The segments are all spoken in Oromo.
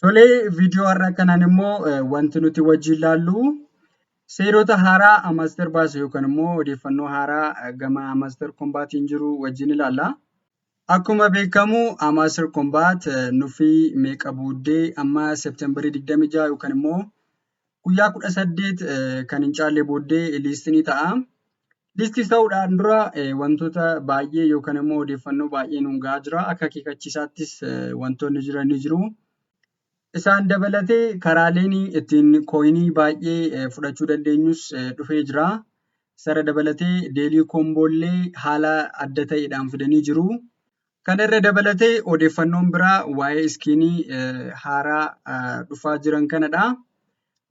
Tolee, viidiyoo har'a kanaan immoo wanti nuti wajjin laallu seerota haaraa Amaster baase yookaan immoo odeeffannoo haaraa gama Amaster Kombaatiin jiru wajjin ilaalla. Akkuma beekamu Amaster Kombaat nuffii meeqa buuddee amma Seepteembarii 26 yookaan immoo guyyaa kudha saddeet kan hin caalle booddee liistii ni ta'a. Liistii ta'uudhaan dura wantoota baay'ee yookaan immoo odeeffannoo baay'ee nuun ga'aa jira. Akka akeekkachiisaattis wantoonni jiran ni jiru. Isaan dabalatee karaaleen ittiin kooyinii baay'ee fudhachuu dandeenyus dhufee jira. Sara dabalatee deelii koomboollee haala adda ta'eedhaan fidanii jiru. Kana irra dabalatee odeeffannoon biraa waa'ee iskiinii haaraa dhufaa jiran kanadha.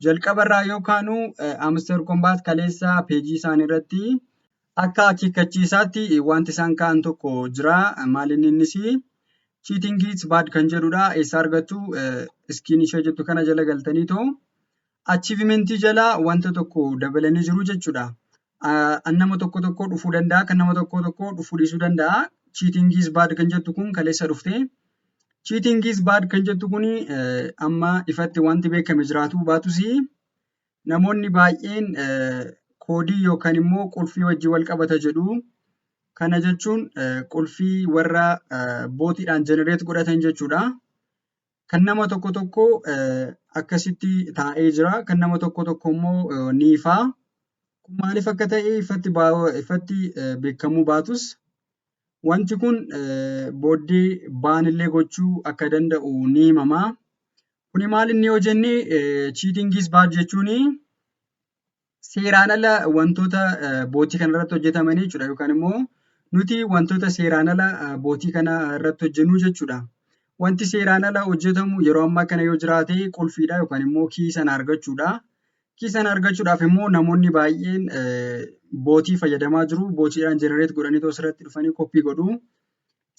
Jalqaba irraa yoo kaanu Amster Kombaat kaleessa peejii isaanii irratti akka akeekkachiisaatti wanti isaan ka'an tokko jira. Maalinni innis cheating it's bad kan jedhudha. Eessa argattu iskiin ishee jettu kana jala galtaniitoo achiivimentii jala wanta tokko dabalanii jiru jechuudha. An nama tokko tokko dhufuu danda'a, kan nama tokko tokko dhufuu dhiisuu danda'a. Cheating is bad kan jettu kun kaleessa dhufte. Cheating is bad kan jettu kun amma ifatti wanti beekame jiraatu baatus namoonni baay'een koodii yookaan immoo qulfii wajjin wal qabata jedhu. Kana jechuun qulfii warra bootiidhaan jenereet godhatan jechuudha. Kan nama tokko tokko akkasitti taa'ee jira. Kan nama tokko tokko immoo ni ifa. Kun maaliif akka ta'e ifatti, ifatti beekamuu baatus wanti kun booddee baanillee gochuu akka danda'u ni himama. Kuni maal inni yoo jenne cheating is bad jechuun seeraan ala wantoota bootii kana irratti hojjetamanii jechuudha yookaan immoo nuti wantoota seeraan ala bootii kana irratti hojjennu jechuudha. Wanti seeraan ala hojjetamu yeroo ammaa kana yoo jiraate qulfiidha yookaan immoo kii sana argachuudha. Kii sana argachuudhaaf immoo namoonni baay'een bootii fayyadamaa jiru. Bootiidhaan jenereet godhanii osoo irratti dhufanii koppii godhu.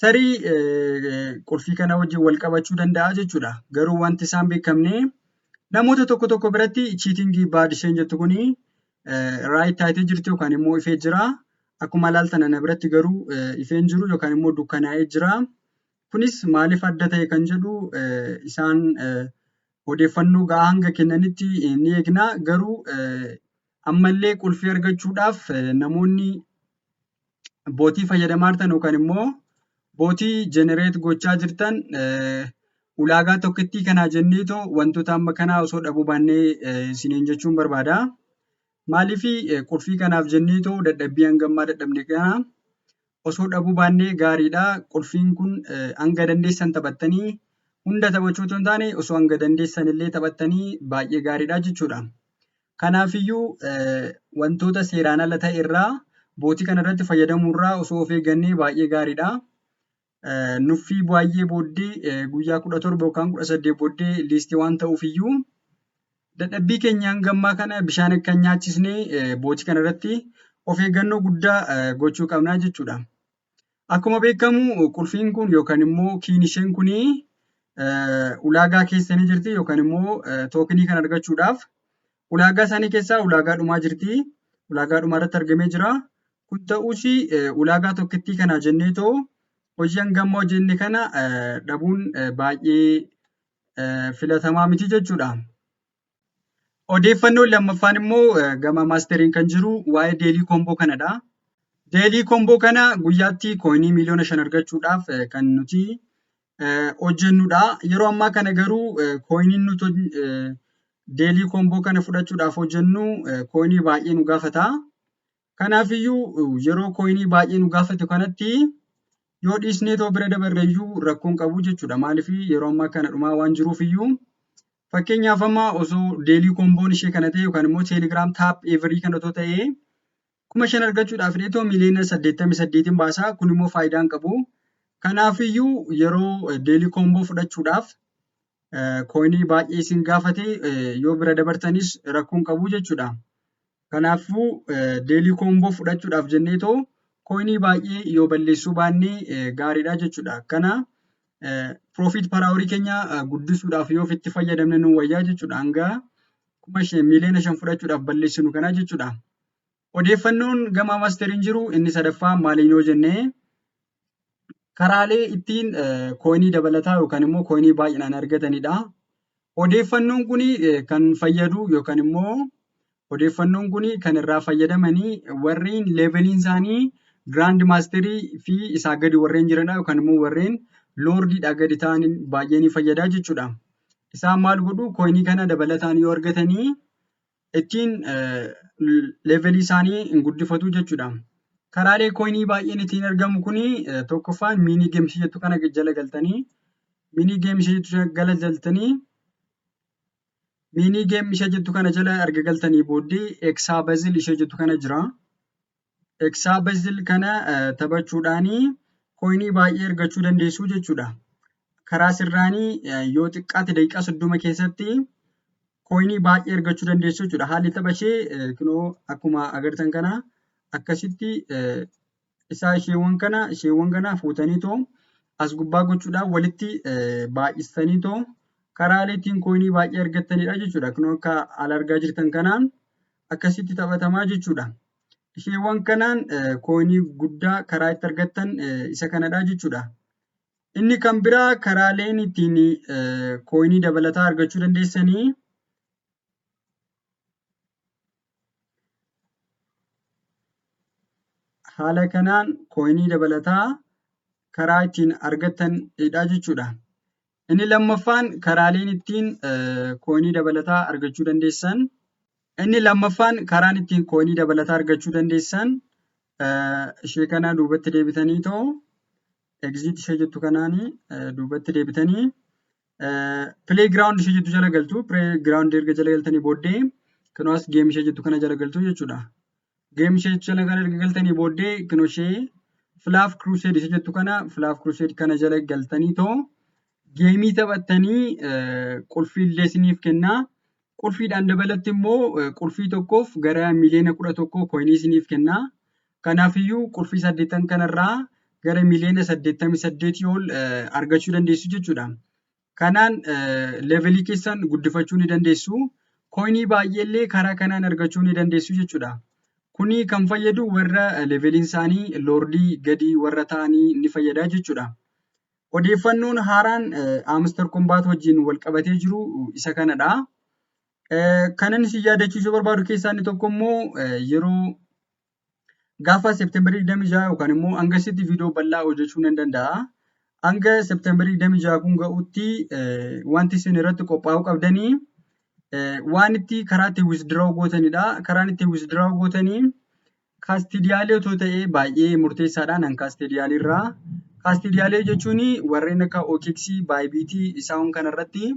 tarii qulfii kana wajjin wal qabachuu danda'a jechuudha. Garuu wanti isaan beekamne namoota tokko tokko biratti chiitingii baad isheen jettu kuni raayit taatee jirti yookaan immoo ifee jira. Akkuma ilaaltan ana biratti garuu ifeen jiru yookaan immoo dukkanaa'ee jira. Kunis maaliif adda ta'e kan jedhu isaan odeeffannoo ga'aa hanga kennanitti ni eegna. Garuu ammallee qulfii argachuudhaaf namoonni bootii fayyadamaa jirtan yookaan immoo bootii jenereet gochaa jirtan ulaagaa tokkittii kanaa jenneetoo wantoota amma kanaa osoo dhabuu baannee isiniin jechuun barbaada. Maaliif qulfii kanaaf jenneetoo dadhabbii hangammaa dadhabne kana osoo dhabuu baannee gaariidha. Qulfiin kun hanga dandeessan taphattanii hunda taphachuu otoo hin taane osoo hanga dandeessan illee taphattanii baay'ee gaariidha jechuudha. Kanaafiyyuu wantoota seeraan ala ta'e irraa bootii kana irratti fayyadamuu irraa osoo of eeggannee baay'ee gaariidha. Nuffii baay'ee booddee guyyaa kudha torba yookaan kudha saddeet booddee liistii waan ta'uuf iyyuu dadhabbii keenya hanga ammaa kana bishaan akka hin nyaachisne bootii kana irratti of eeggannoo guddaa gochuu qabna jechuudha. Akkuma beekamu qulfiin kun yookaan immoo kiin isheen kun ulaagaa keessa ni jirti yookaan immoo tookinii kan argachuudhaaf ulaagaa isaanii keessaa ulaagaa dhumaa jirti. Ulaagaa dhumaa irratti argamee jira. Kun ta'us ulaagaa tokkittii kana jennee too hojii hanga ammaa hojjenne kana dhabuun baay'ee filatamaa miti jechuudha. Odeeffannoon lammaffaan immoo gama maasteriin kan jiru waa'ee deelii koomboo kanadha. Deelii koomboo kana guyyaatti kooyinii miliyoona shan argachuudhaaf kan nuti hojjennudha. Yeroo ammaa kana garuu kooyiniin nuti deelii koomboo kana fudhachuudhaaf hojjennu kooyinii baay'ee nu gaafata. Kanaafiyyuu yeroo kooyinii baay'ee nu gaafatu kanatti yoo dhiisnee too bira dabarre iyyuu rakkoo hin qabu jechuudha. Maaliif yeroo ammaa kana dhumaa waan jiruuf iyyuu fakkeenyaaf amma osoo deelii koomboon ishee kana ta'e yookaan immoo teelegiraam taap eevarii kana otoo ta'ee kuma shan argachuudhaaf illee too miliyoona saddeettamii saddeetiin baasaa kun immoo faayidaa hin qabu. Kanaafiyyuu yeroo deelii koomboo fudhachuudhaaf kooyinii baay'ee isin gaafate yoo bira dabartanis rakkoon qabu jechuudha. Kanaafuu deelii koomboo fudhachuudhaaf jennee too kooyinii baay'ee yoo balleessuu baannee gaariidha jechuudha. Kana piroofiit paraaworii keenya guddisuudhaaf yoo ofitti fayyadamne nu wayyaa jechuudha. Hanga kuma shan miiliyoona shan fudhachuudhaaf balleessinu kana jechuudha. Odeeffannoon gama masteriin jiru inni sadaffaa maaliin yoo jenne karaalee ittiin kooyinii dabalataa yookaan immoo kooyinii baay'inaan argatanidha. Odeeffannoon kun kan fayyadu yookaan immoo odeeffannoon kun kan irraa fayyadamanii warreen leeveliin isaanii giraand maasterii fi isaa gadi warreen jiranidha yookaan immoo warreen loordiidhaa gadi ta'an baay'ee ni fayyada jechuudha. Isaan maal godhu kooyinii kana dabalataan yoo argatanii ittiin leevelii isaanii hin guddifatu jechuudha. Karaalee kooyinii baay'een ittiin argamu kuni tokkoffaan miinii geemsii jettu kana jala galtanii miinii geemsii jettu jala galtanii miinii geem ishee jettu kana jala erga galtanii booddee eksaa bazil ishee jettu kana jira. Eksaa bezil kana taphachuudhaanii koinii baay'ee argachuu dandeessuu jechuudha. Karaa sirraanii yoo xiqqaate daqiiqaa soddoma keessatti koinii baay'ee argachuu dandeessuu jechuudha. Haalli tapha ishee kunoo akkuma agartan kana akkasitti isaa isheewwan kana isheewwan kana fuutanii too as gubbaa gochuudhaan walitti baay'istanii too karaalee ittiin koinii baay'ee argattanidha jechuudha. Kunoo akka ala argaa jirtan kanaan akkasitti taphatamaa jechuudha. Isheewwan kanaan kooyinii guddaa karaa itti argattan isa kanadha jechuudha. Inni kan biraa karaaleen ittiin kooyinii dabalataa argachuu dandeessanii haala kanaan kooyinii dabalataa karaa ittiin argattanidha jechuudha. Inni lammaffaan karaaleen ittiin kooyinii dabalataa argachuu dandeessan. Inni lammaffaan karaan ittiin kooyinii dabalataa argachuu dandeessan ishee kana duubatti deebitanii ta'u egziit ishee jettu kanaan duubatti deebitanii pilee giraawundi ishee jettu jala galtu. Pilee giraawundi erga jala galtanii booddee kanaas geem ishee jettu kana jala galtu jechuudha. Geem ishee jala kan erga galtanii booddee kino ishee Flav Crusade isa jettu kana Flav Crusade kana jala galtanii too geemii taphattanii qulfii illee isiniif kennaa. Qulfiidhaan dabalatti immoo qulfii tokkoof gara miliyoona kudha tokkoo koinii isiniif kennaa. Kanaafiyyuu qulfii saddeettan kanarraa gara miliyoona saddeettamii saddeetii ol argachuu dandeessu jechuudha. Kanaan levelii keessan guddifachuu ni dandeessu. Koinii baay'eellee karaa kanaan argachuu ni dandeessu jechuudha. Kuni kan fayyadu warra leveliin isaanii loordii gadi warra ta'anii ni fayyada jechuudha. Odeeffannoon haaraan Amster Kombaat wajjin wal qabatee jiru isa kanadha. Kanan isin yaadachiisuu barbaadu keessaa inni tokko immoo yeroo Gaafa Seepteembarii 26 yookaan immoo hanga sitti viidiyoo bal'aa hojjechuu nan danda'a. Hanga Seepteembarii 26 kun ga'utti wanti isin irratti qophaa'uu qabdanii waan itti karaa itti withdraw gootanidha. Karaan itti withdraw gootanii kaastidiyaalee otoo ta'ee baay'ee murteessaadha nan kaastidiyaalii irraa. Kaastidiyaalee jechuun warreen akka OKX, Bybit isaan kanarratti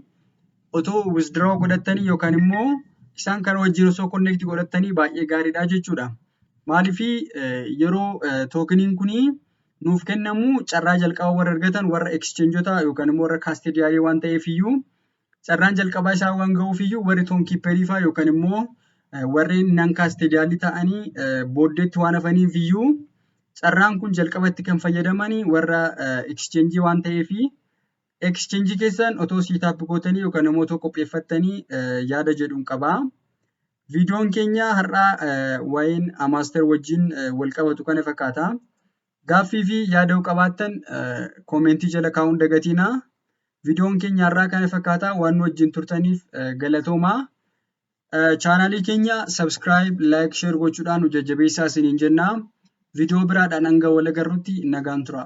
otoo withdraw godhattanii yookaan immoo isaan kana wajjin osoo connect godhattanii baay'ee gaariidha jechuudha. Maaliif yeroo tookiniin kun nuuf kennamu carraa jalqaba warra argatan warra exchangeota yookaan immoo warra kaastediyaalee waan ta'eef iyyuu carraan jalqabaa isaa waan ga'uuf iyyuu warri toonkiipperii fa'aa yookaan immoo warreen nan kaastediyaalii ta'anii booddeetti waan hafaniif iyyuu carraan kun jalqabatti kan fayyadamanii warra exchange waan ta'eef Exchange keessan otoo siitaappi gootanii yookaan immoo otoo qopheeffattanii yaada jedhuun qaba. Viidiyoon keenya har'aa waa'een Amaaster wajjin wal qabatu kana fakkaata. Gaaffii fi yaada yoo qabaattan koomentii jala kaa'uun dagatiina. Viidiyoon keenya har'aa kana fakkaata waan nu wajjin turtaniif galatoomaa. Chaanaalii keenya subscribe, like, share gochuudhaan nu jajjabeessaa isiniin jenna. Viidiyoo biraadhaan hanga wal agarrutti nagaan turaa.